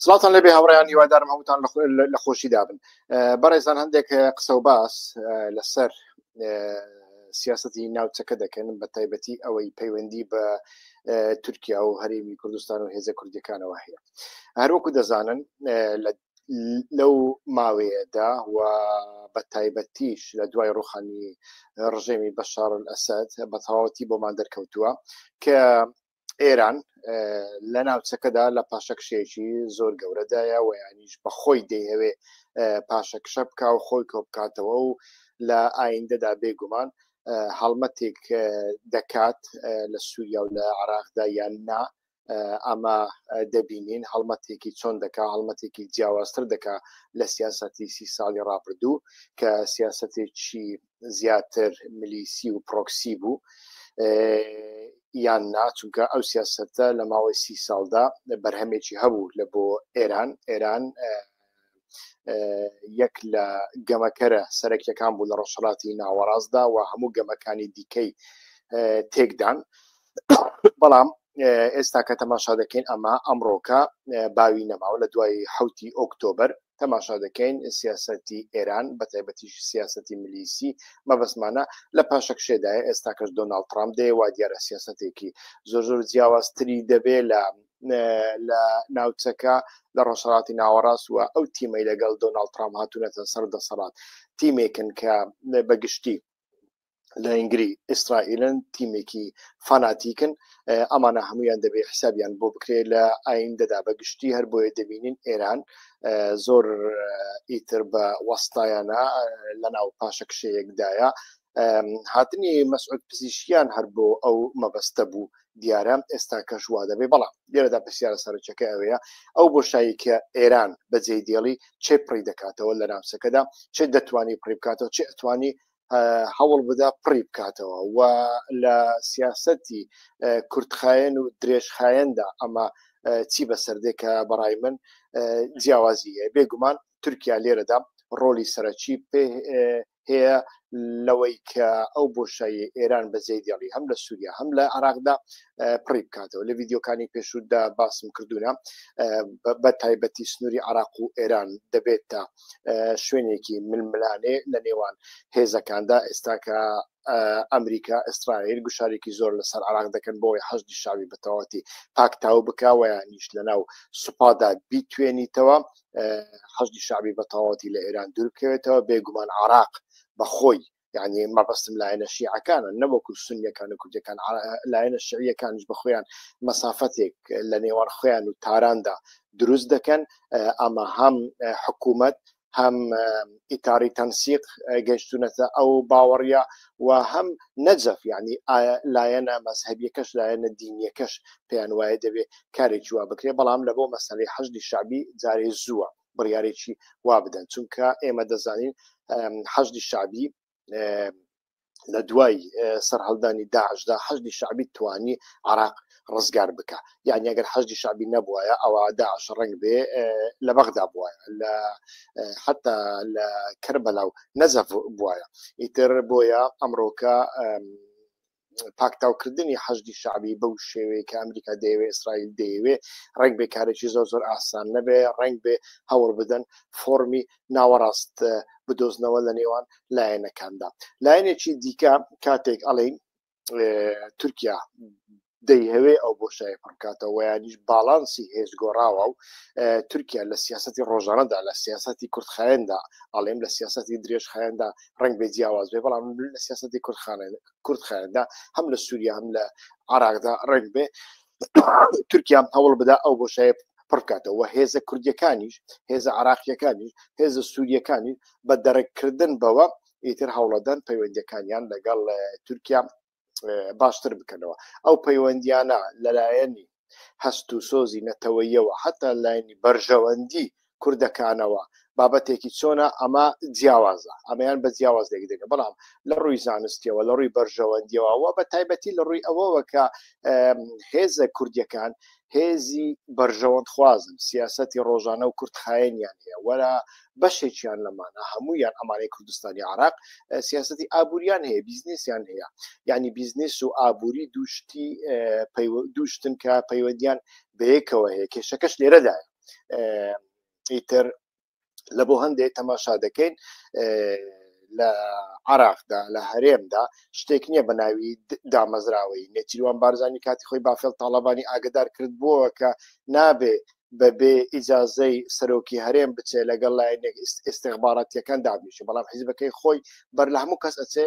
سڵاتان لەبێ هاوڕیان هیوادارم هەمووتان لە خۆشی دابن بەڕێزان هەندێک قسە و باس لەسەر سیاستی ناوچەکە دەکەن بە تایبەتی ئەوەی پەیوەندی بە تورکیا و هەرێمی کوردستان و هێزە کوردەکانەوە هەیە هەروەکو دەزانن لە لەو ماوەیەدا و بە تایبەتیش لە دوای ڕوخانی ڕژێمی بەشارن ئەسد بە تەواوەتی بۆمان دەرکەوتووە کە ئێران لە ناوچەکەدا لە پاشەکشێکی زۆر گەورەدایە و یانیش بە خۆی دەیەوێ پاشەکشە بکە و خۆی کۆ بکاتەوە و لە ئایندەدا بێگومان هەڵمەتێک دەکات لە سووریا و لە عراقدا یان نا ئەمە دەبینین هەڵمەتێکی چۆن دەکا هەڵمەتێکی جیاوازتر دەکا لە سیاستی سی ساڵی ڕابردوو کە سیاستێکی زیاتر ملیسی و پرۆکسی بوو یان نا چونکە ئەو سیاستە لە ماوەی سی ساڵدا بەرهەمێکی هەبوو لە بۆ ئێران ئێران یەک لە گەمەکەرە سەرەکیەکان بوو لە ڕۆژهڵاتی ناوەڕاستدا و هەموو گەمەکانی دیکەی تێکدان بەڵام ئێستا کە تەماشا دەکەین ئەمە ئەمڕۆکە باوی نەماوە لە دوای حوتی ئۆکتۆبر تەماشا دەکەین سیاسەتی ئێران بە تایبەتیش سیاسەتی ملیسی مەبەستمانە لە پاشەکشێدایە ئێستاکەش دۆناڵد ترامپ دەیە وا دیارە سیاسەتێکی زۆر زۆر جیاوازتری دەبێ لە لە ناوچەکە لە ڕۆژهڵاتی ناوەڕاست وە ئەو تیمەی لەگەڵ دۆناڵ ترام هاتوونەتە سەر دەسەڵات تیمێکن کە بەگشتی لە ئینگری ئیسرائیلن تیمێکی فاناتیکن ئەمانە هەمویان دەبێت حسابیان بۆ بکرێت لە ئایندەدا بە گشتی هەر بۆیە دەبینین ئێران زۆر ئیتر بە وەستایانە لە ناو پاشەکشەیەکدایە هاتنی مەسعود پزیشکیان هەر بۆ ئەو مەبەستە بوو دیارە ئێستا کەش وا دەبێ بەڵام لێرەدا پرسیارە سەرچەکە ئەوەیە ئەو بۆشایی کە ئێران بەجێ دێڵی چێ پڕی دەکاتەوە لە ناوچەکەدا چێ دەتوانی پڕی بکاتەوە چێ ئەتوانی هەوڵ بدا پڕی بکاتەوە و لە سیاستی کورتخایەن و درێژخایەندا ئەمە چی بەسەردێکە بەڕای من جیاوازی هەیە بێگومان تورکیا لێرەدا ڕۆلی سەرەکی پێ هەیە لەوەی کە ئەو بۆشایی ئێران بەجێ دیڵی هەم لە سووریا هەم لە عراقدا پڕی بکاتەوە لە یددیوکانی پێشودا باسم کردوونە بە تایبەتی سنووری عراق و ئێران دەبێت تا شوێنێکی ململانێ لە نێوان هێزەکاندا ئێستا کە ئەمریکا ئیسرائیل گوشارێکی زۆر لەسەر عراق دەکەن بۆی حەزدی شاوی بەتەواتی پاکتاو بکوەیە نیش لەناو سوپادا بیتوێنیتەوە حەزدی شعبی بەتەواتی لە ئێران دوورکەوێتەوە بێگومان عراق بەخۆی یعنی مەبەستم لایەنە شیعەکانە نەوەکو سونیەکان و کوردەکان لایەنە شعیەکانیش بە خۆیان مەسافەتێک لە نێوان خۆیان و تاراندا دروست دەکەن ئەمە هەم حکوومەت هەم ئیتاری تەنسیق گەشتونەتە ئەو باوەڕە و هەم نەجەف ینی لایەنە مەسهبیەکەش لایەنە دینیەکەش پێیان وایە دەبێت کارێکی وا بکرێ بەڵام لە بۆ مەسلەی حەشدی شعبی جارێ زووە بڕیارێکی وا بدەن چونکە ئێمە دەزانین حەشدی شعبی لە دوای سەررهڵدانی داعشدا حەشدی شعبی توانی عراق ڕزگار بکە یعنی ئەگەر حەشدی شعبی نەبووایە ئەوە داعش ڕنگ بێ لە بەغدا بووە لە حتا لە کەربەلا و نەزەف بواە ئیتر بۆیە ئەمڕۆکە پاکتاوکردنی حەشدی شعبی بەو شێوەیە کە ئەمریکا دەیەوێ ئیسرائیل دەیەوێ ڕنگ بێ کارێکی زۆر زۆر ئاسان نەبێ ڕنگ بێ هەوڵ بدەن فۆمی ناوەڕاست بدۆزنەوە لە نێوان لایەنەکاندا لایەنێکی دیکە کاتێک ئەڵین تورکیا دەیهوێ ئەو بۆشای پڕکاتەوە ویانیش باڵانسی هێز گۆڕاوە و تورکیا لە سیاستی ڕۆژانەدا لە سیاستی کوردخایەندا ئەڵێم لە سیاستی درێژخایەندا ڕنگ بێ جیاواز بێ بەڵام لە سیاستی کوردخانە کورد خایەندا هەم لە سووریا هەم لە عراقدا ڕێک بێ تورکیام هەوڵ بدا ئەو بۆشایە پڕکاتەوە هێزە کوردیەکانیش هێزە عراقیەکانیش هێزە سووریەکانی بە دەڕێککردن بەوە ئیتر هەوڵەدان پەیوەندەکانیان لەگەڵ تورکیا باشتر بکەنەوە ئەو پەیوەندیانە لەلایەنی هەست و سۆزی نەتەوەییەوە هەتا لایەنی بەرژەوەندی کوردەکانەوە بابەتێکی چۆنە ئەمە جیاوازە ئەمەیان بە جیاواز لێک دەگە بەڵام لە ڕووی زانستیەوە لە ڕووی بەرژەوەندیەوە و بە تایبەتی لە ڕووی ئەوەوە کە هێزە کوردیەکان هێزی بەرژەوەند خوازن سیاستی ڕۆژانە و کورتخایەنیان هەیە وەرە بەشێکیان لەمانە هەموویان ئەمانەی کوردستانی عراق سیاستی ئابووریان هەیە بیزنسیان هەیە یعنی بیزنس و ئابووری دوشتی دوشتن کە پەیوەندیان بەیەکەوە هەیە کێشەکەش لێرەدا ئیتر لە بۆ هەندێک تەماشا دەکەین لە عراقدا لە هەرێمدا شتێک نییە بە ناوی دامەزراوەی نێچیروان بارزانانی کاتی خۆی بافێل تاالبانی ئاگدار کرد بووە کە نابێ بە بێ ئیجازەی سەرۆکی هەرێم بچێ لەگەڵ لایەنێک ئستیخباراتیەکان دابنیشێ بەڵام حیزبەکەی خۆی بەر لە هەموو کەس ئەچێ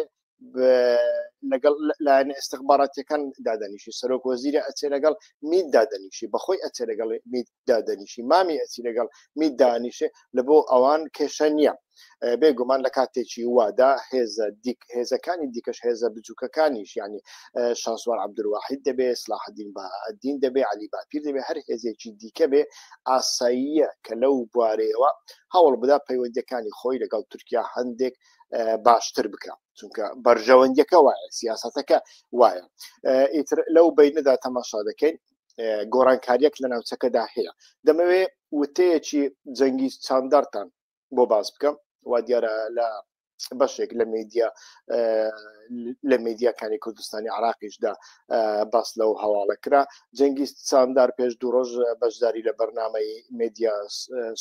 لەگەڵ لایەن ئستخباراتەکان دادەنیشی سەرۆک وەزیرە ئەچێ لەگەڵ مید دادەنیشی بەخۆی ئەچێ لەگەڵ مید دادەنیشی مامی ئەچی لەگەڵ مید دانیشێ لە بۆ ئەوان کێشە نییە بێگومان لە کاتێکی وادا هێزە دیک هێزەکانی دیکەش هێزە بچووکەکانیش ینی شانسوار عبدواحید دەبێ سلاحدین بەدین دەبێ علی باپیر دەبێ هەر هێزێکی دیکە بێ ئاساییە کە لەو بوارەیەوە هەوڵ بدا پەیوەندەکانی خۆی لەگەڵ تورکیا هەندێک باشتر بکە چونکە بەرژەوەندیەکە وایە سیاستەکە وایە ئیتر لەو بینەدا تەماشا دەکەین گۆڕانکاریەک لە ناوچەکەدا هەیە دەمەوێ وتەیەکی جەنگی چاندارتان بۆ باس بکەم وا دیارە لە بەشێک لە میدیا لە میدیاکانی کوردستانی عراقیشدا باس لەو هەواڵە کرا جەنگی ساندار پێش دوو ڕۆژ بەشداری لە بەرنمەی میدیا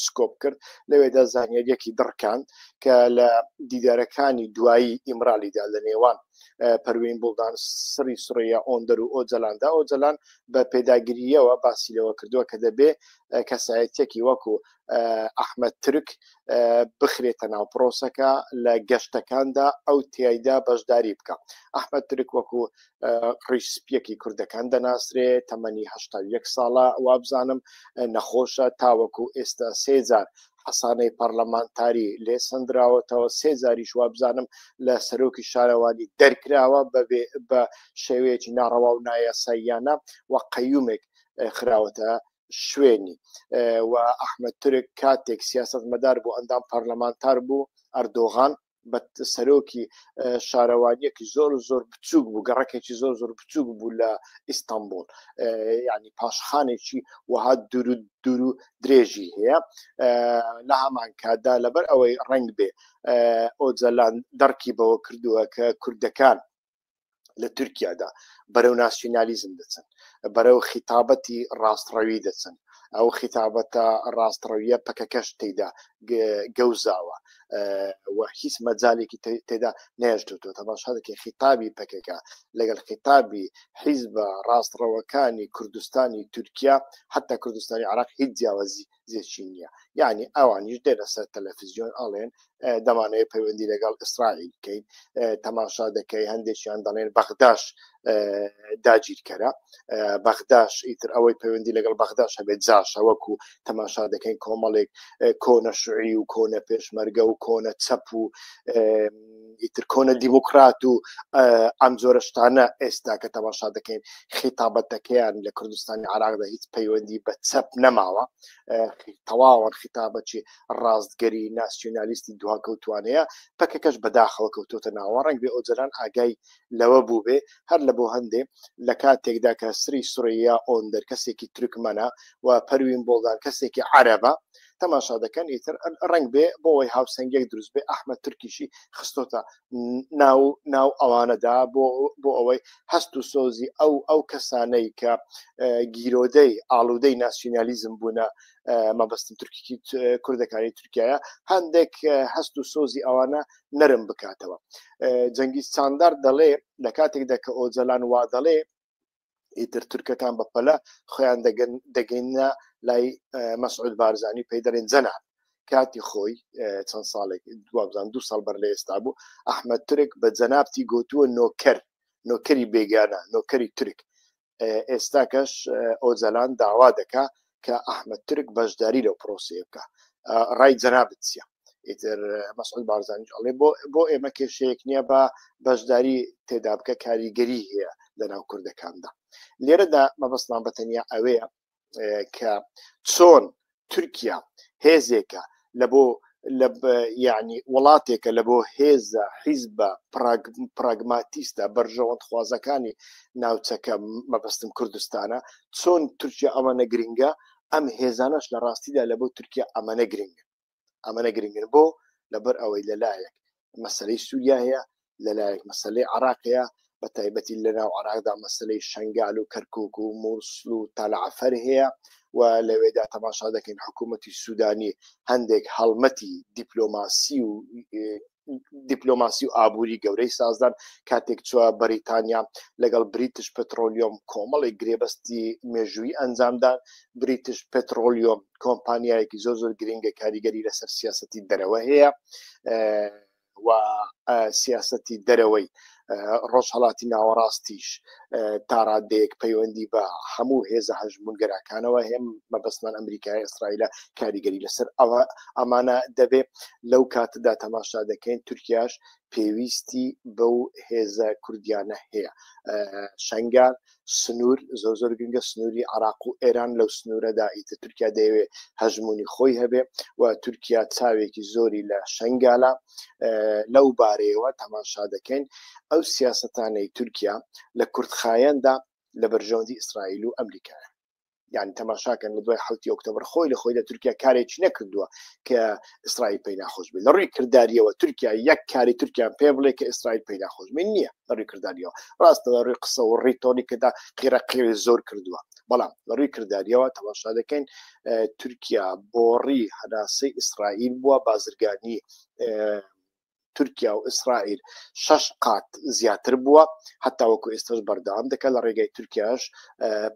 سکۆپ کرد لەوێدا زانیاریەکی دڕکان کە لە دیدارەکانی دوایی ئیمرالیدا لە نێوان پەروین بڵدان سری سڕەیە ئۆندەر و ئۆجلاندا ئۆجلان بە پێداگریەوە باسی لەوە کردووە کە دەبێ کەسایەتێکی وەکو ئەحمەد ترک بخرێتە ناو پرۆسەکە لە گەشتەکاندا ئەو تایدا بەشداری بکە ئەحمەد ترک وەکو ڕیسپیەکی کوردەکان دەناسرێ تەمەنی هه یەک ساڵە وابزانم نەخۆشە تاوەکو ئێستا سێجار حەسانەی پەرلەمانتاری لێ سندراوەتەوە سێجاریش وابزانم لە سەرۆکی شارەوانی دەرکراوە بەبێ بە شێوەیەکی ناڕەوا و نایاساییانە و قەیومێک خراوەتە شوێنی و ئەحمد تورک کاتێک سیاست مەدار بۆ ئەندام پەرلەمانتار بوو ئەردۆغان بە سەرۆکی شارەوانیەکی زۆر زۆر بچووک بوو گەڕەکێکی زۆر زۆر بچووک بوو لە ئیستانبول ینی پاشخانێکی وەها دوورو دوورو درێژی هەیە لە هەمان کاتدا لەبەر ئەوەی ڕنگ بێ ئۆجەلان دەرکی بەوە کردووە کە کوردەکان لە تورکیادا بەرەو ناسیونالیزم دەچن بەرەو خیتابەتی ڕاستڕەوی دەچن ئەو خیتابەتە ڕاستڕەویە پەکەکەش تێدا گەوزاوە و هیچ مەجالێکی تێدا نێشتوتۆ تەماشادەکە خیتابی پەکەکە لەگەڵ خیتابی حیزبە ڕاستڕەوەکانی کوردستانی تورکیا حتا کوردستانی عراق هیچ جیاوازی زێچی نییە یعنی ئەوانیش دێنە سەر تەلەفزیۆن ئاڵێن دەمانەیە پەیوەندی لەگەڵ ئیسرائیل بکەین تەماشا دەکەی هەندێکیان دەڵێن بەغداش داگیرکەرە بەغداش ئیتر ئەوەی پەیوەندی لەگەڵ بەغداش هەبێت جاشە وەکو تەماشا دەکەین کۆمەڵێک کۆنە شعی و کۆنە پێشمەرگە و کۆنە چەپ و ئیتر کۆنە دیموکرات و ئەم جۆرە شتانە ئێستا کە تەماشا دەکەین خیتابەتەکەیان لە کوردستانی عراقدا هیچ پەیوەندی بە چەپ نەماوە تەواوە خیتابەتی ڕاستگەری ناسیۆنالیستی دواکەوتوانەیە پەکەکەش بەداخەوە کەوتۆتە ناوە ڕنگ بێ ئۆجران ئاگای لەوە بوو بێ هەر لە بۆ هەندێ لە کاتێکدا کە سری سوریا ئۆندەر کەسێکی ترکمەە و پەروین بۆڵدان کەسێکی عەرەبە تەماشا دەکەن ئیتر ڕنگ بێ بۆەوەی هاوسەنگێک دروست بێ ئەحمە ترکیشی خستۆتە ناو ناو ئەوانەدا بۆ بۆ ئەوەی هەست و سۆزی ئەو ئەو کەسانەی کە گیرۆدەی ئاڵودەی ناسیۆنالیزم بوونە مەبەستم تورکیی کوردەکانی تورکایە هەندێک هەست و سۆزی ئەوانە نەرم بکاتەوە جەنگی ساندار دەڵێ لە کاتێکدا کە ئۆجەلان وا دەڵێ ئیتر تورکەکان بە پەلە خۆیان دەگەن دەگەینە لای مەسعود بارزانانی پێی دەرێن جەناب کاتی خۆی چەند ساڵێک دوابزان دو ساڵ بەر لە ئێستا بوو ئەحمد ترک بە جەنابتی گوتووە نۆکەر نۆکەری بێگانە نۆکەری ترک ئێستاکەش ئۆجەلان داوا دەکا کە ئەحمەد ترک بەشداری لەو پرۆسەیە بکە ڕای جەنابت چیە ئیتر مەسعود بارزانیش ئەڵێ بۆ بۆ ئێمە کێشەیەک نییە بە بەشداری تێدا بکە کاریگەری هەیە لە ناو کوردەکاندا لێرەدا مەبەستمان بە تەنیا ئەوەیە کە چۆن تورکیا هێزێکە لە بۆ لە یعنی وڵاتێکە لە بۆ هێزە حیزبە پراگماتیستە بەرژەوەند خوازەکانی ناوچەکە مەبەستم کوردستانە چۆن تورکیا ئەمانە گرنگە ئەم هێزانەش لە ڕاستیدا لە بۆ تورکیا ئەمانە گرنگ ئەمانە گرنگن بۆ لەبەر ئەوەی لەلایەک مەسلەی سووریا هەیە لەلایەک مەسلەی عراقەیە بە تایبەتی لەناو عراقدا مەسلەی شنگال و کەرکک و مووسل و تەلعفەر هەیە و لەوێدا تەماشا دەکەین حکوومەتی سوودانی هەندێک هەڵمەتی دیپلۆماسی و دیپلۆماسی و ئابووری گەورەی سازدان کاتێک چوە بەریتانیا لەگەڵ بریتش پترۆلیۆم کۆمەڵی گرێبەستی مێژووی ئەنجامدان بریتش پترۆلیۆم کۆمپانیایەکی زۆر زۆر گرنگە کاریگەری لەسەر سیاستی دەرەوە هەیە و سیاستی دەرەوەی ڕۆژهڵاتی ناوەڕاستیش تاڕادەیەک پەیوەندی بە هەموو هێزە هەژمونگەراکانەوە هێم مەبەستمان ئەمریکای ئیسرائیلە کاریگەری لەسەر ئەوە ئەمانە دەبێ لەو کاتدا تەماشا دەکەین تورکیاش پێویستی بەو هێزە کوردیانە هەیە شنگار سنوور زۆر زۆر گرنگە سنووری عراق و ئێران لەو سنوورەدا ئیتە تورکیا دەیەوێ هەژمونی خۆی هەبێ و تورکیا چاوێکی زۆری لە شنگالە لەو بارەیەوە تەماشا دەکەین ئەو سیاستانەی تورکیا لە کورتخایەندا لە بەرژەوەندی ئیسرائیل و ئەمریکایە یان تەماشاکەن لە دوای حوتی ئۆکتۆبر خۆی لە خۆی لە تورکیا کارێکی نەکردووە کە ئیسرائیل پێی ناخۆش بێت لە ڕووی کردداریەوە تورکیا یەک کاری تورکیان پێ بڵێ کە ئیسرائیل پێی ناخۆش من نییە لە ڕووی کردداریەوە ڕاستە لە ڕووی قسە و ڕیتۆنی کەدا قیرە قیری زۆر کردووە بەڵام لە ڕووی کردداریەوە تەماشا دەکەین تورکیا بۆڕی هەناسەی ئیسرائیل بووە بازرگانی تورکیا و ئیسرائیل شەش قات زیاتر بووە هەتاوەکو ئێستش بەردەوام دەکات لە ڕێگای تورکیاش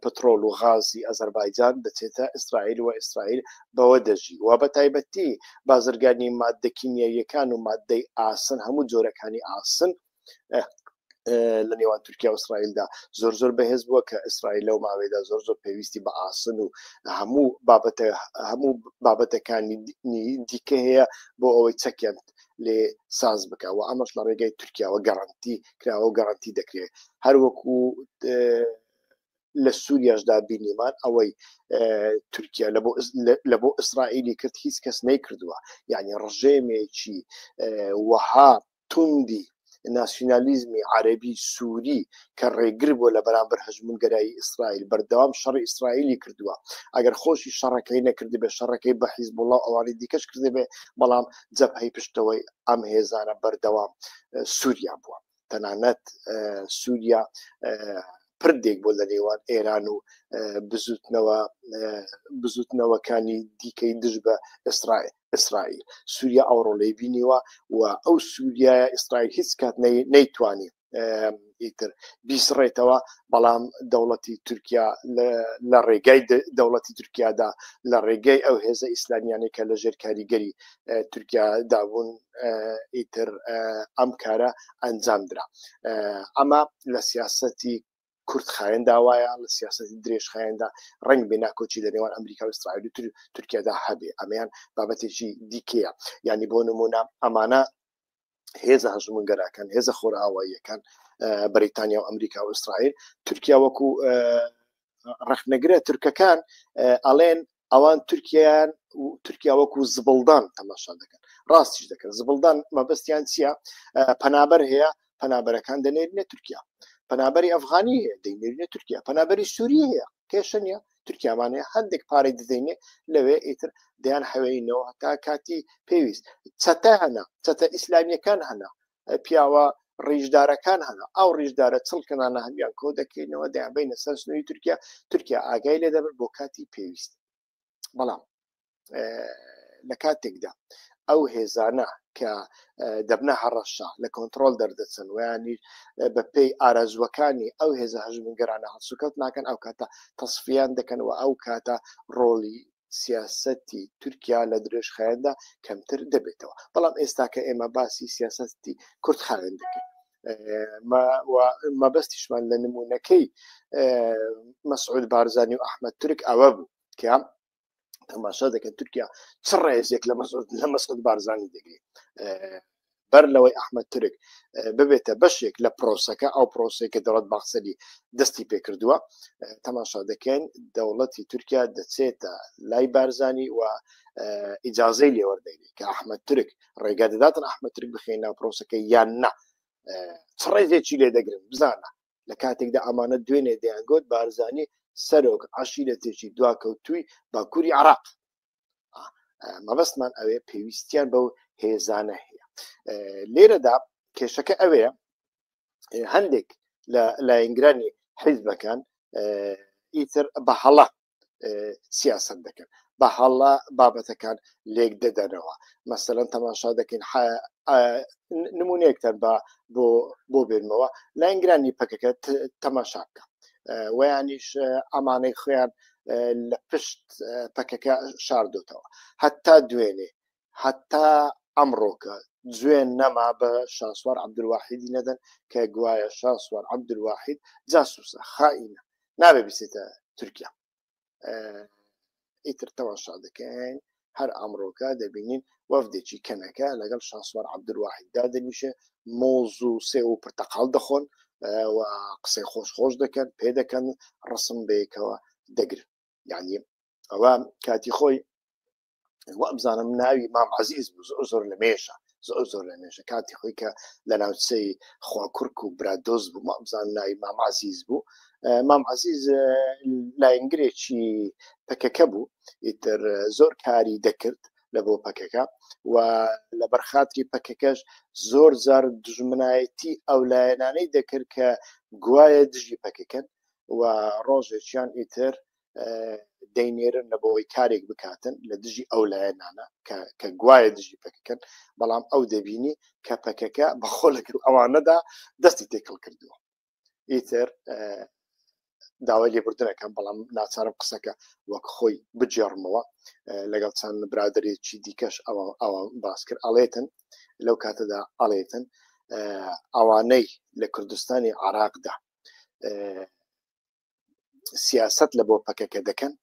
پترۆل و غازی ئەزەربایجان دەچێتە ئیسرائیل و ئیسرائیل بەوە دەژی و بە تایبەتی بازرگانی مادەکیمیەکان و مادەی ئاسن هەموو جۆرەکانی ئاسن لە نێوان تورکیا و ئیسرائیلدا زۆر زۆر بەهێز بووە کە ئیسرائیل لەو ماوەیەدا زۆر زۆر پێویستی بە ئاسن و هەموو بابەتە هەموو بابەتەکانی دیکە هەیە بۆ ئەوەی چەکیان لێ ساز بکە و ئەمەش لە ڕێگەی تورکیاوە گەڕنتی کراوە و گەڕنتی دەکرێت هەروەکو لە سووریاشدا بینیمان ئەوەی تورکیا لە بۆ ئیسرائیلی کرد هیچ کەس نەیکردووە یعنی ڕژێمێکی وەها توندی ناسیونالیزمی عەرەبی سوری کە ڕێگر بووە لە بەرامبەر هەژموونگەرایی ئیسرائیل بەردەوام شەڕی ئیسرائیلی کردووە ئەگەر خۆشی شەڕەکەی نەکردبێ شەڕەکەی بە حیزبوڵڵا و ئەوانی دیکەش کردبێ بەڵام جەبهەی پشتەوەی ئەم هێزانە بەردەوام سووریا بووە تەنانەت سووریا پردێک بۆ لە نێوان ئێران و بزوتنەوە بزوتنەوەکانی دیکەی دژ بە ئیسرائیل ئیسرائیل سووریا ئەوڕۆ لی بینیوە و ئەو سووریایە ئیسرائیل هیچ کات نەیتوانی ئیتر بیسڕێتەوە بەڵام دەوڵەتی تورکیا لە ڕێگای دەوڵەتی تورکیادا لە ڕێگای ئەو هێزە ئیسلامیانەی کە لە ژێر کاریگەری تورکیا دابوون ئیتر ئەم کارە ئەنجام درا ئەمە لە سیاستی کورت خایەن داوایە لە سیاستی درێژ خایەندا ڕنگ بێ ناکۆچی لە نێوان ئەمریکا و ئیسرائیل و تورکیادا هەبێ ئەمەیان بابەتێکی دیکەیە یعنی بۆ نمونە ئەمانە هێزە هەژمونگەراکان هێزە خۆرئاواییەکان بەریتانیا و ئەمریکا و ئیسرائیل تورکیا وەکو ڕخنەگرە تورکەکان ئەڵێن ئەوان تورکیایان تورکیا وەکو زبڵدان تەماشا دەکەن ڕاستیش دەکەن زبڵدان مەبەستیان چییە پەنابەر هەیە پەنابەرەکان دەنێرنە تورکیا پەنابەری ئەفغانی هەیە دەینێرنە تورکیا پەنابەری سووری هەیە کێشە نیە تورکیامانەیە هەندێک پارەی دەدەینێ لەوێ ئیتر دەیان حەوێینەوە تا کاتی پێویست چەتە هەنا چەتە ئیسلامیەکان هەنا پیاوە ڕیژدارەکان هەنا ئەو ڕیژدارە چڵکەنانە هەمیان کۆ دەکەینەوە دەیانبینە سەر سنووری تورکیا تورکیا ئاگای لێ دەبن بۆ کاتی پێویست بەڵام لە کاتێکدا ئەو هێزانە کە دەبنە هەڕەشە لە کۆنتترۆل دەردەچن ویانی بە پێی ئارەزوەکانی ئەو هێزە هەژمنگەرانە هەڵسوکەوت ناکەن ئەو کاتە تەسفیان دەکەن و ئەو کاتە ڕۆڵی سیاسەتی تورکیا لە درێژخایەندا کەمتر دەبێتەوە بەڵام ئێستاکە ئێمە باسی سیاسەتی کورتخایەن دەکەین مەبەستیشمان لە نمونونەکەی مەسعود بارزانانی و ئەحمد تورک ئەوە بوو کە تەماشا دەکەن تورکیا چ ڕێزێک لە مەسعود لە مەسعود بارزانانی دەگرێت بەر لەوەی ئەحمەد تورک ببێتە بەشێک لە پرۆسەکە ئەو پرۆسی کە دەڵەت باخسەری دەستی پێکردووە تەماشا دەکەین دەوڵەتی تورکیا دەچێتە لای بارزانانی و ئیجاازەی لێوەردەینی کە ئەحمەد تورک ڕێگا دەداتن ئەحمەد ترک بخێن ناو پرۆسەکە یان نا چ ڕێزێکی لێ دەگرن بزانە لە کاتێکدا ئەمانە دوێنێ دەیانگوت بارزانانی سەرۆک عشیرەتێکی دواکەوتوی باکووری عراق مەبەستمان ئەوێ پێویستیان بەو هێزانە هەیە لێرەدا کێشەکە ئەوێ هەندێک لە لایەنگرانی حیزبەکان ئیتر بە هەڵە سیاست دەکەن بە هەڵە بابەتەکان لێک دەدەنەوە مەسەرەن تەماشا دەکەین نمونونەیەکتان بە بۆ بۆ بێنمەوە لایەنگرانی پەکەکە تەماشا بکە ویانیش ئەمانەی خۆیان لە پشت پەکەکە شاردۆتەوە هەتا دوێنێ هەتا ئەمڕۆکە جوێن نەما بە شاسوار عبدواحیدی نەدەن کە گوایە شاسوار عبدواحید جاسوسە خائینە نابێ بچێتە تورکیا ئیتر تەواشا دەکەین هەر ئەمڕۆکە دەبینین وەفدێکی کەنەکە لەگەڵ شاسوار عبدواحید دادەنیشێ مۆز و سێ و پرتەقال دەخۆن و قسەی خۆش خۆش دەکەن پێ دەکەن ڕسم بەیەکەوە دەگرن یعنی ئەوە کاتی خۆی وابزانم ناوی مام عزیز زۆر لە مێشە زۆر زۆر لە مێژە کاتی خۆی کە لە ناوچەی خواکوڕک و برادۆز بوو مامزان ناوی مامازیز بوو مام عزیز لاینگرێکی پەکەکە بوو ئیتر زۆر کاری دەکرد لە بۆ پەکەکە و لە بەرخاتری پەکەکەش زۆر زار دژمنایەتی ئەو لایەنانەی دەکرد کە گوایە دژی پەکەکەن و ڕۆژێکیان ئیتر دەینێرن لە بۆی کارێک بکاتن لە دژی ئەو لایەنانە کە گوایە دژی پەکەکەن بەڵام ئەو دەبینی کە پەکەکە بەخۆ لەگەر ئەوانەدا دەستی تێکەڵ کردووە ئیتر داوای لێبوردنەکەم بەڵام ناچارم قسەکە وەک خۆی بجێڕمەوە لەگەڵ چەند برادێکی دیکەش ئەوە ئەوە باس کرد ئەڵێتن لەو کاتەدا ئەڵێتن ئەوانەی لە کوردستانی عراقدا سیاست لە بۆ پەکەکە دەکەن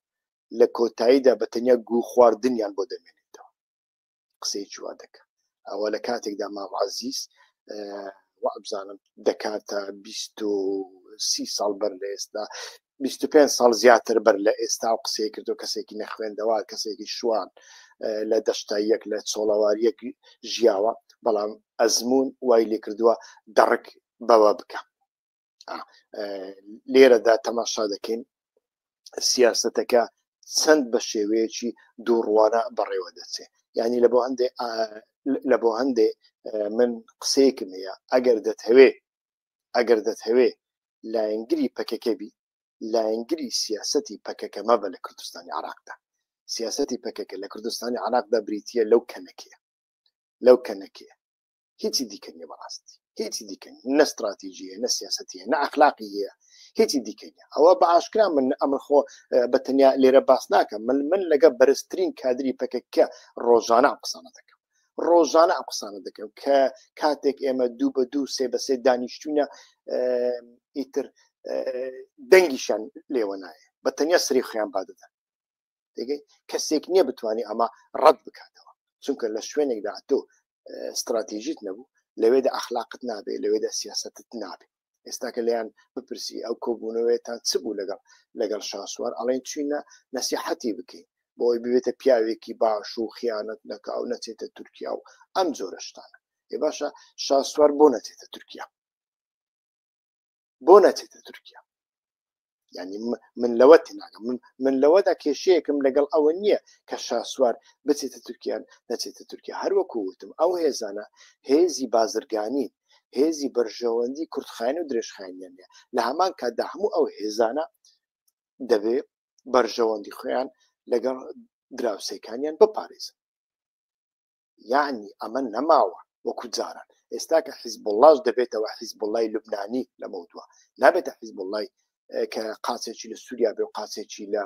لە کۆتاییدا بە تەنیا گو خواردنیان بۆ دەمێنێتەوە قسەی چوا دەکە ئەوە لە کاتێکدا ماوازیز وابزانم دەکاتە سی ساڵ بەر لە ئێستا 25 ساڵ زیاتر بەر لە ئێستا و قسەی کردو کەسێکی نەخوێندەوە کەسێکی شوان لە دەشتاییەک لە چۆڵەواریەک ژیاوە بەڵام ئەزمون وای لێ کردووە دەڕک بەوە بکە لێرەدا تەماشا دەکەین سیاستەکە چەند بە شێوەیەکی دووڕوانە بەڕێوە دەچێ ینی لە بۆ هەندێ لە بۆ هەندێ من قسەیەکم هەیە ئەگەر دەتهوێ ئەگەر دەتهوێ لایەنگری پەکەکەبی لایەنگری سیاستی پەکەکە مەبە لە کوردستانی عراقدا سیاستی پەکەکە لە کوردستانی عراقدا بریتە لەو کەنەکەیە لەو کەنەکەیە هیچی دیکە نیە بەڕاستی هیچی دیکە نە ستراتیژیە نە سیاستە نە ئەخلاقی هەیە هیچی دیکە نیە ئەوە بە ئاشکرا من ئەمر خۆ بە تەنیا لێرە باس ناکەم من من لەگە بەرزترین کادری پەکەکە ڕۆژانە قسانە دەکەم ڕۆژانە ئە قسانە دەکەم کە کاتێک ئێمە دوو بە دوو سێ بە سێ دانیشتوینە ئیتر دەنگیشان لێوە نایە بە تەنیا سری خیان بادەدەن دەگەی کەسێک نییە بتانی ئەمە ڕەت بکاتەوە چونکە لە شوێنێکدا تۆ استراتیژیت نەبوو لەوێدا ئەخلاقت نابێ لەوێدا سیاستت نابێ ئێستاکە لەیان بپرسی ئەو کۆبوونەوەێتان چ بوو لەگەڵ لەگەڵ شاسوار ئەڵێن چینە نەسیحەتی بکەین بۆی ببێتە پیاوێکی باش و خیانەت نەکە و نەچێتە تورکیا و ئەم جۆرەشتانە ێ باشە شاسوار بۆ نەچێتە تورکیا بۆ نەچێتە تورکیا ینی من لەوە تێناگەم من من لەوەدا کێشەیەکم لەگەڵ ئەوە نییە کە شاسوار بچێتە تورکیان نەچێتە تورکیا هەروەکو وتم ئەو هێزانە هێزی بازرگانی هێزی بەرژەوەندی کورتخایەن و درێژخایەنیان نیە لە هەمان کاتدا هەموو ئەو هێزانە دەبێ بەرژەوەندی خۆیان لەگەڵ دراوسێکانیان بپارێزن یەعنی ئەمە نەماوە وەکو جاران ئێستا کە حیزبوڵاش دەبێتەوە حیزبوڵای لوبنانی لەمەو دووە نابێتە حیزبوڵای کە قاچێکی لە سووریا بێ و قاچێکی لە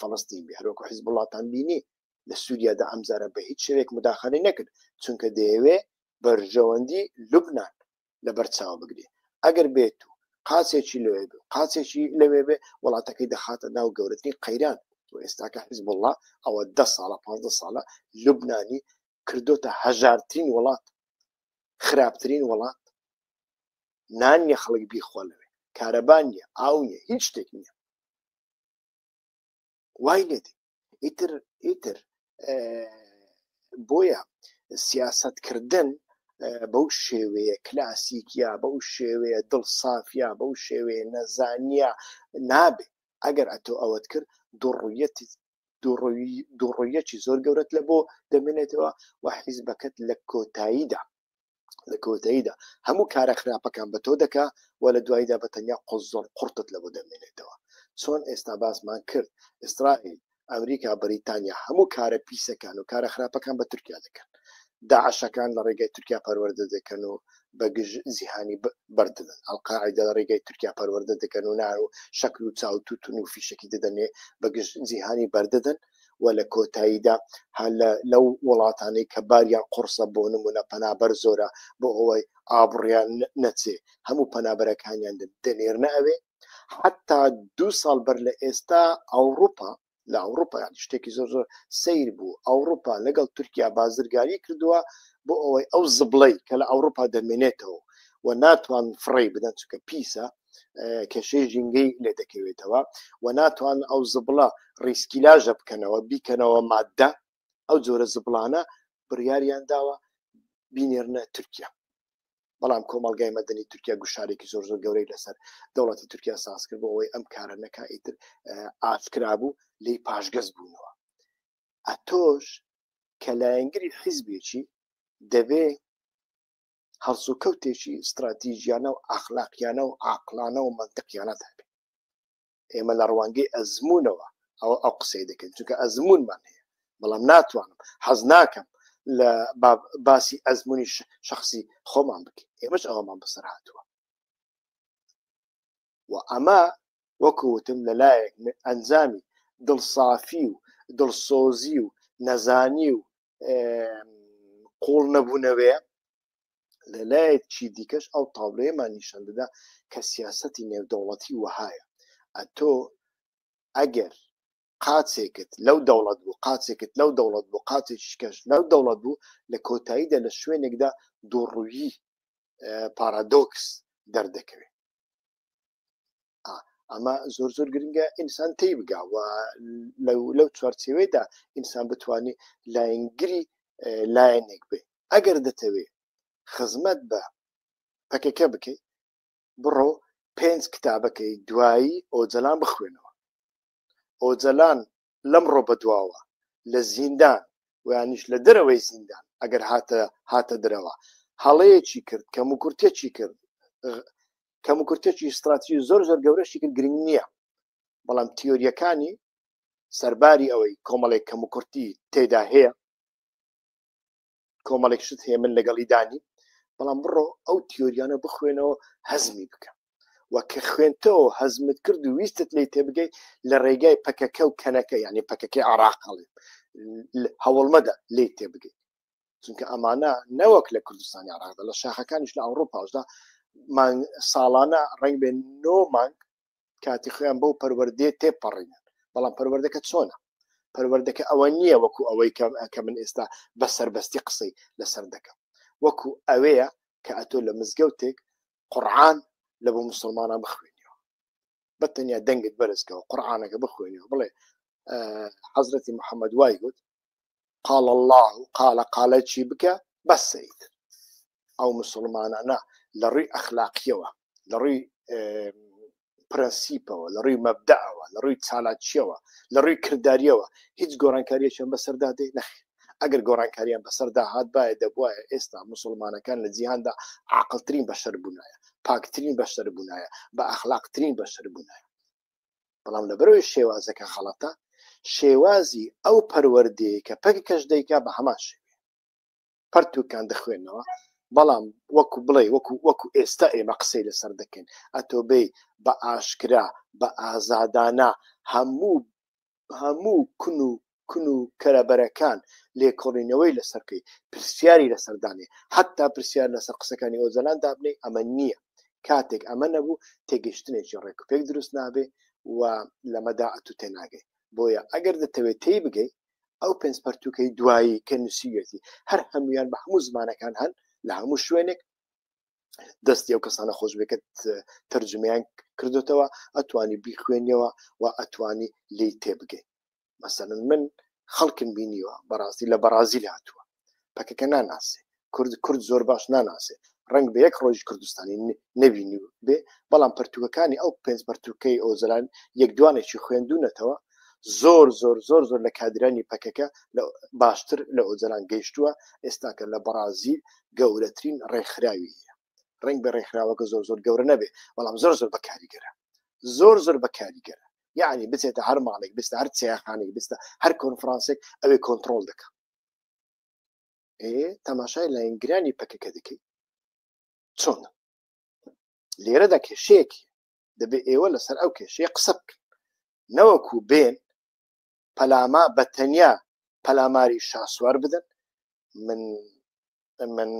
فەڵستین بێ هەروەکو حیزبوڵاتان بینی لە سووریادا ئەمجارە بە هیچ شوێک مداخلی نەکرد چونکە دەیەوێ بەرژەوەندی لوبناان لەبەر چاو بگرێ ئەگەر بێت و قاچێکی لەوێ بێ قاچێکی لەوێ بێ وڵاتەکەی دەخاتە ناو گەورەترین قەیران و ئێستاکە حزب الله ئەوە ده ساڵە پ ساڵە لوبنانی کردوتە هەژارترین وڵات خراپترین وڵات نان نیە خەڵک بیخۆ لەوێ کارەبان نیە ئاو نیە هیچ شتێک نیە وای لێ دێ ئیتر ئیتر بۆیە سیاستکردن بەو شێوەیە کلاسیکیا بەو شێوەیە دڵ سافیا بەو شێوەیە نەزانیا نابێ ئەگەر ئەتۆ ئەوەت کرد دوڕویەتی دوڕویەکی زۆر گەورەت لە بۆ دەمێنێتەوە و حیزبەکەت لە کۆتاییدا لە کۆتاییدا هەموو کارە خراپەکان بە تۆ دەکا و لە دواییدا بە تەنیا قۆز زۆر قڕتت لە بۆ دەمێنێتەوە چۆن ئێستا باسمان کرد ئیسرائیل ئەمریکا بەریتانیا هەموو کارە پیسەکان و کارە خراپەکان بە تورکیا دەکەن داعشەکان لە ڕێگەی تورکیا پەروەەردە دەکەن و بەگژ زیهانی بردن ئەلقاعدە لە ڕێگەی تورکیا پەروەەردە دەکەن و نار و شەکر و چاوتوتون و فیشکی دەدەنێ بەگژ زیهانی بەردەدەن و لە کۆتاییدا هەر لە لەو وڵاتانەی کە باریان قوڕسە بۆ نموونە پەنابەر زۆرە بۆ ئەوەی ئابڕیان نەچێ هەموو پەنابەرەکانیان دەنێرنە ئەوێ حتا دوو ساڵ بەر لە ئێستا ئەوروپا لە ئەوروپا شتێکی زۆر زۆر سیر بوو ئەوروپا لەگەڵ تورکیا بازرگاری کردووە بۆ ئەوەی ئەو زبڵەی کە لە ئەوروپا دەمێنێتەوە و ناتوان فڕی بدەن چکە پیسە کێشەی ژینگەی لێ دەکەوێتەوە و ناتوان ئەو زبڵە ڕیسکیلاژە بکەنەوە بیکەنەوە مادە ئەو جۆرە زبڵانە بڕیاریان داوە بینێرنە تورکیا بەڵام کۆمەلگای مەدەنی تورکیا گوشارێکی زۆر زۆر گەورەی لەسەر دەوڵەتی تورکیا ساز کرد بۆ ئەوەی ئەم کارە نەکە ئیتر ئافکرا بوو لی پاشگەز بوونەوە ئەتۆش کە لایەنگری حیزبێکی دەبێ هەڵسوکەوتێکی ستراتیژیانە و ئەخلاقیانە و عاقڵانە و مەنتقیانەت هەبێ ئێمە لە ڕوانگەی ئەزمونەوە ئەوە ئەو قسەی دەکەین چونکە ئەزمونمان هەیە بەڵام ناتوانم حەز ناکەم لە باسی ئەزمونی شخصی خۆمان بکەین ئێمەش ئەوەمان بەسەر هاتووە و ئەمە وەکو وتم لەلایەک ئەنجامی دڵسافی و دڵسۆزی و نەزانی و قوڵ نەبوونەوەیە لە لایەکی دیکەش ئەو تاڵێمان نیشان دەدا کە سیاستی نێودەوڵەتی وەهایە ئەتۆ ئەگەر قاچێکت لەو دەوڵەت بوو قاچێکت لەو دەوڵەت بوو قاچێکی کەش لەو دەوڵەت بوو لە کۆتاییدا لە شوێنێکدا دوڕووی پارادۆکس دەردەکەوێت ئەمە زۆر زۆر گرنگە ئینسان تی بگاوە لەو چوارچێوێدا ئینسان بتانی لایەنگری لایەنێک بێ ئەگەر دەتەوێ خزمەت بە پەکەکە بکەیت بڕۆ پێنج کتابەکەی دوایی ئۆجلان بخوێنەوە ئۆجلان لەمڕۆ بەدواوە لە زیندان ویانیش لە دەرەوەی زیندان ئەگەر هاتە هاتە درەوە هەڵەیەکی کرد کەم و کورتێکی کرد کەم و کورتێکی ستراتژی زۆر زۆر گەورەشی کرد گرنگ نییە بەڵام تیۆریەکانی سەرباری ئەوەی کۆمەڵێک کەم و کورتی تێدا هەیە کۆمەڵێک شت هەیە من لەگەڵی دانی بەڵام بڕۆ ئەو تیۆریانە بخوێنەوە هەزمی بکە و کە خوێنتەوە هەزمت کرد و ویستت لی تێبگەی لە ڕێگای پەکەکە و کەنەکە یعنی پەکەکەی عراق هەڵێ هەوڵمەدە لی تێبگەی چونکە ئەمانە نەوەک لە کوردستانی عراقدا لە شاخەکانیش لە ئەوروپاشدا ساڵانە ڕنگ بێن نۆ مانگ کاتی خۆیان بەو پەروەردەیە تێپەڕینن بەڵام پەروەردەکە چۆنە پەروەردەکە ئەوە نییە وەکو ئەوەی کەم ئەکە من ئێستا بە سربەستی قسەی لەسەر دەکەم وەکو ئەوەیە کە ئەتۆ لە مزگەوتێک قڕعان لە بۆ مسلمانان بخوێنیەوە بە تەنیا دەنگت بەرزکەەوە قڕعانەکە بخوێنیەوە بڵێ حەزرەتی محەممەد وای گوت قال الله قالە قالە چی بکە بەسەیت ئەو مسلمانانە لە ڕووی ئەخلاقیەوە لە ڕووی پرەنسیپەوە لە ڕووی مەبدەوە لە ڕووی چالاکیەوە لە ڕووی کردداریەوە هیچ گۆڕانکاریەکیان بەسەردا دێ نەخ ئەگەر گۆڕانکاریان بەسەردا هاات باە دەبواە ئێستا مسلمانەکان لە جیهاندا عقلترین بەشەر بوونایە پاکترین بەشەر بوونایە بە ئەخلاقترین بەشەر بوونایە بەڵام لەبەرەوەی شێوازەکە خەڵەتە شێوازی ئەو پەروەردەیە کە پەککەش دەیکا بە هەمان شێوێ پەرتوکان دەخوێنەوە بەڵام وەکو بڵێ وەکو وەکو ئێستا ئێمە قسەی لەسەر دەکەین ئەتۆبەی بە ئاشکرا بە ئازادانە هەموو هەموو کون و کون و کەرەبەرەکان لێکۆڵینەوەی لەسەرکەی پرسیاری لەسەردانێ حتا پرسیار لەسەر قسەکانی ئۆزەلان دابنی ئەمە نییە کاتێک ئەمە نەبوو تێگەشتنێکی ڕێک پێک دروست نابێ و لەمەدا ئەتو تێناگەی بۆیە ئەگەر دەتەوێت تێی بگەی ئەو پێنج پەرتوکەی دوایی کە نووسیویەتی هەر هەمویان بە هەموو زمانەکان هەن لە هەموو شوێنێک دەستی ئەو کەسانە خۆش بکرد تەرجمیان کردوتەوە ئەتوانی بیخوێنیەوە و ئەتوانی لی تێبگەین مەسەن من خەڵکم بینیوە بەڕاستی لە بەڕازیل هاتووە پەکەکە ناناسێ کورد کورد زۆر باش ناناسێ ڕنگ بە یەک ڕۆژ کوردستانی نەبینی بێ بەڵام پەرتوکەکانی ئەو پێنج پەرتوکەی ئۆزلان یەک دوانێکی خوێندونەتەوە زۆر زۆر زۆر زۆر لە کادرانی پەکەکە لە باشتر لە ئۆجلان گەیشتووە ئێستاکە لە بەڕازیل گەورەترین ڕێکخراوی ڕنگ بە ڕێکخراوەکە زۆر زۆر گەورە نەبێ بەڵام زۆر زۆر بەکاریگەرە زۆر زۆر بەکاریگەرە یعنی بچێتە هەر ماڵێک بستە هەر چیاخانێک بستە هەر کۆنفرانسێک ئەوێ کۆنتترۆل دەکە تەماشای لاینگرانی پەکەکە دەکەی چۆن لێرەدا کێشەیەکی دەبێ ئێوە لەسەر ئەو کێشەیە قسە بکەن نەوەکو بێن پەلاما بە تەنیا پەلاماری شاسوار بدەن من من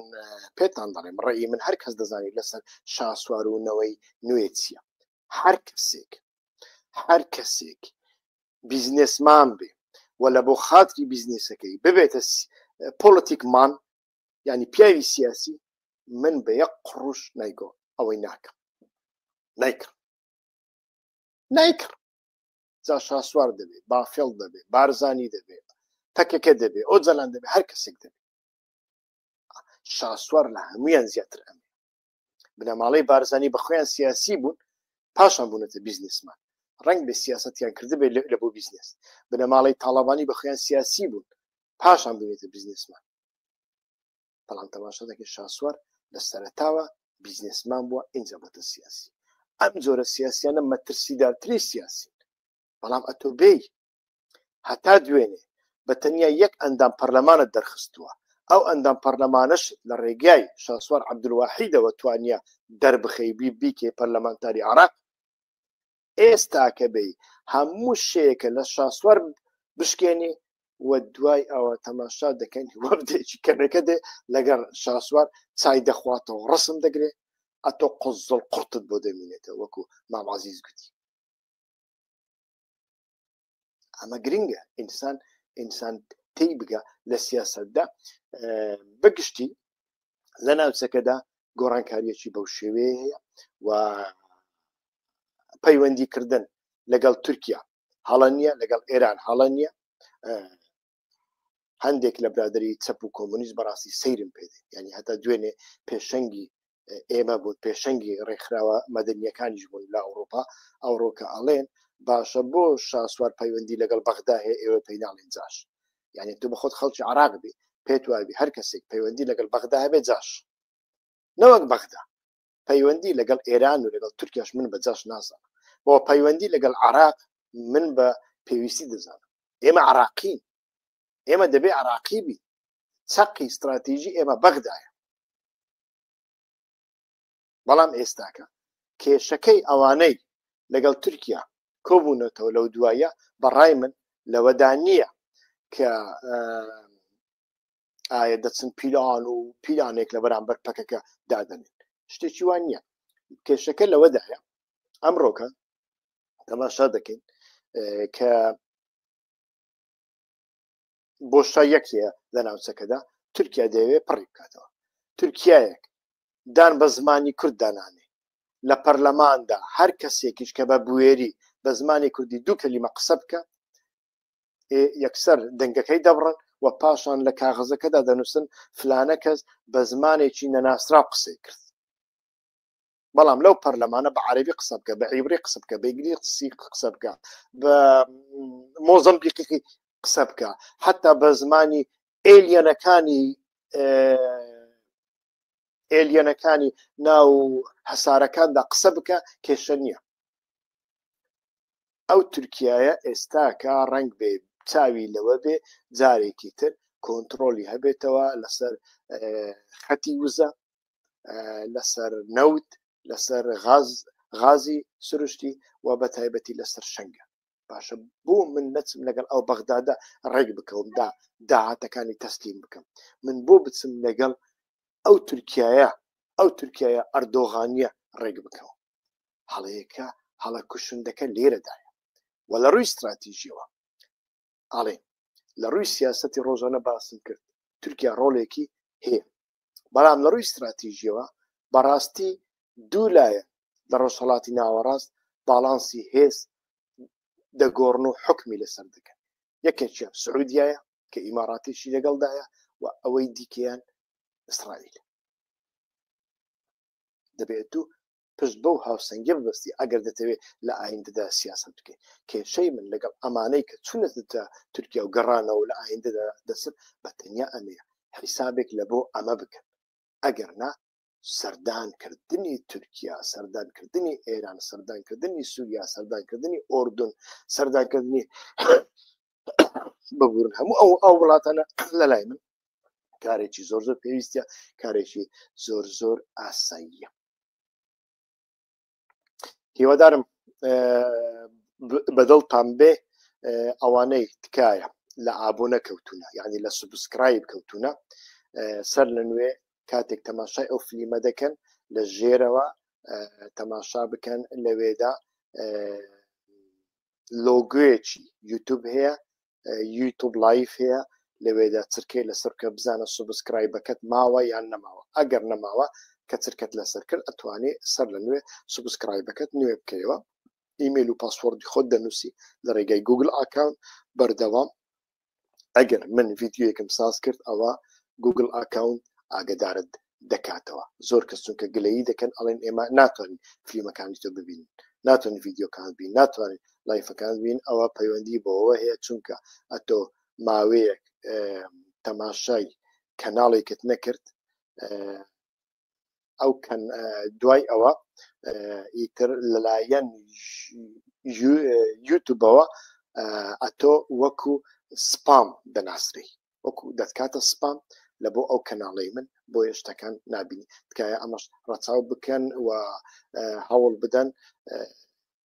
پێتان دەڵێم ڕێی من هەر کەس دەزانانی لەسەر شاسوار و نەوەی نوێ چییە هەر کەسێک هەر کەسێک بیزنسمان بێ و لە بۆ خاتری بیزنسەکەی ببێتە پۆلتیکمان ینی پیاوی سیاسی من بە یەک قڕوش نایگۆ ئەوەی ناکەم نایکڕ نایکڕ جا شاسوار دەبێت بافێڵ دەبێت بارزانی دەبێت پەکەکە دەبێت ئەو جەلان دەبێت هەر کەسێک دەبێت شاسوار لە هەمویان زیاتر ئەم بنەماڵەی بارزانانی بەخۆیان سیاسی بوون پاشان بوونەتە بیزنسمان ڕنگ بە سیاستیان کردبێت لە بۆ بیزنس بنەماڵی تاڵەبانی بە خۆیان سیاسی بوون پاشان بوونێتە بیزنسمان بەڵام تەماشا دەکە شاسوار لە سەرتاوە بیزنسمان بووە ئینجا بۆتە سیاسی ئەم جۆرە سیاسیانە مەترسیدارتری سیاسی بەڵام ئەتۆ بێی هەتا دوێنێ بە تەنیا یەک ئەندام پەرلەمانت دەرخستووە، ئەو ئەندام پەرلەمانەشت لە ڕێگای شاسوار عەبدولواحیدەوە توانییە دەربخەی بی بیکەی پەرلەمانتاری عێراق، ئێستاکە بێی هەموو شێیەکە لە شاسوار بشکێنی و دوای ئەوە تەماشا دەکەین وەبدێکی کەنەکە دێ لەگەر شاسوار چای دەخواتەوە ڕسم دەگرێ ئەتۆ قزڵ قڕتت بۆ دەمینێتە وەکو مامازیز گوتی ئەمە گرنگە ئینسان ئینسان تی بگە لە سیاستدا بەگشتی لە ناوچەکەدا گۆڕانکاریەکی بەو شێوەیە هەیە و پەیوەندی کردن لەگەڵ تورکیا هەڵە نییە لەگەڵ ئێران هەڵە نییە هەندێک لە برادری چەپ و کۆمونیست بەڕاستی سەیرم پێ ینی هەتا دوێنێ پێشەنگی ئێمە بوون پێشەنگی ڕێکخراوە مەدەنیەکانیش بوون لە ئەوروپا ئەوڕۆکە ئەڵێن باشە بۆ شاسوار پەیوەندی لەگەڵ بەغدا هەیە ئێوە پێیناڵین جاش یعنی تو بە خۆت خەڵکی عراق بی پێت وابی هەر کەسێک پەیوەندی لەگەڵ بەغدا هەبێ جاش نەوەک بەغدا پەیوەندی لەگەڵ ئێران و لەگەڵ تورکیاش من بە جاش نازانم بۆ پەیوەندی لەگەڵ عراق من بە پێویستی دەزانم ئێمە عراقین ئێمە دەبێ عراقی بی چەقی استراتیژی ئێمە بەغدایە بەڵام ئێستاکە کێشەکەی ئەوانەی لەگەڵ تورکیا کۆبوونەتەوە لەو دوایە بەڕای من لەوەدا نییە کە ئایا دەچن پیلان و پیلانێک لە بەرامبەر پەکەکە دادەنێن شتێکی وان نییە کێشەکە لەوەدایە ئەمڕۆکە تەماشا دەکەین کە بۆشتا یەکەیە لە ناوچەکەدا تورکیا دەوێت پڕی بکاتەوە تورکایەک دان بە زمانی کورد دانانێ لە پەرلەماندا هەر کەسێکیش کە بە بوێری بە زمانی کوردی دوو کەلیمە قسە بکە یەکسەر دەنگەکەی دەبڕن و پاشان لە کاغزەکەدا دەنووسن فلانە کەس بە زمانێکی نەناسرا قسەی کرد بەڵام لەو پەرلەمانە بە عربی قسە بکە بە عیبری قسە بکە بەگری قسی قسە بکە بە مۆزم بیقیقی قسە بکە حتا بە زمانی ئێلیەنەکانی ئێلیەنەکانی ناو هەسارەکاندا قسە بکە کێشە نییە ئەو تورکیایە ئێستاکە ڕەنگ بێ چاوی لەوە بێ جارێکی تر کۆنترۆلی هەبێتەوە لەسەر خەتی وزە لەسەر نەوت لەسەر غاز غازی سروشتی و بە تایبەتی لەسەر شنگە باشە بۆ من نەچم لەگەڵ ئەو بەغدادا ڕێک بکەومدا داهاتەکانی تەسلیم بکەم من بۆ بچم لەگەڵ ئەو تورکایە ئەو تورکایە ئەردۆغانیە ڕێک بکەوە هەڵەیەکە هەڵە کوشندەکە لێرەدایە و لە ڕووی استراتیژیەوە ئاڵێن لە ڕووی سیاستی ڕۆژانە باسم کرد تورکیا ڕۆڵێکی هەیە بەڵام لە ڕووی استراتیژیەوە بەڕاستی دوو لایە لە ڕۆژهڵاتی ناوەڕاست باڵانسی هێز دەگۆڕن و حکمی لەسەر دەکەن یەکێکیان سعودیایە کە ئیماراتیشی لەگەڵدایە و ئەوەی دیکەیان ئیسرائیل دەبێت و پشت بەو هاوسەنگیە ببەستی ئەگەر دەتەوێ لە ئایندەدا سیاسەت بکەی کێشەی من لەگەڵ ئەمانەی کە چونەتە تورکیا و گەڕانەوە لە ئایندەدا دەچن بە تەنیا ئەمەیە حیسابێک لە بۆ ئەمە بکەن ئەگەر نا سەردانکردنی تورکیا سەردانکردنی ئێران سەردانکردنی سووریا سەردانکردنی ئۆردون سەردانکردنی ببورن هەموو ئەو ئەو وڵاتانە لە لای من کارێکی زۆر زۆر پێویستە کارێکی زۆر زۆر ئاساییە هیوادارم بەدڵتان بێ ئەوانەی تکایە لە ئابوو نەکەوتونە یعنی لە سوبسکرایب کەوتونە سەر لە نوێ کاتێک تەماشای ئەو فلیمە دەکەن لە ژێرەوە تەماشا بکەن لەوێدا لۆگۆیەکی یوتوب هەیە یوتوب لایف هەیە لەوێدا چرکەی لەسەر بکە بزانە سوبسکرایبەکەت ماوە یان نەماوە ئەگەر نەماوە کە چرکەت لەسەر کرد ئەتوانێ سەر لە نوێ سوبسکرایبەکەت نوێ بکەیەوە ئیمێل و پاسوەردی خۆت دەنووسی لە ڕێگای گوگل ئاکاونت بەردەوام ئەگەر من ڤیدیۆیەکم ساز کرد ئەوە گوگل ئاکاونت ئاگدارت دەکاتەوە زۆر کەس چونکە گلەیی دەکەن ئەڵێن ئێمە ناتوانین فلیمەکانی تۆ ببین ناتوانین ڤیددیوکان بین ناتوانین لایفەکان بین ئەوە پەیوەندی بەوە هەیە چونکە ئەتۆ ماوەیەک تەماشای کەناڵێکت نەکرد ئەو کەن دوای ئەوە ئیتر لەلایەن یوتوبەوە ئەتۆ وەکو سپام دەناسری وەکو دەتکاتە سپام لە بۆ ئەو کەناڵی من بۆ هێشتەکان نبینی تکایە ئەمەش ڕەچاو بکەن و هەوڵ بدەن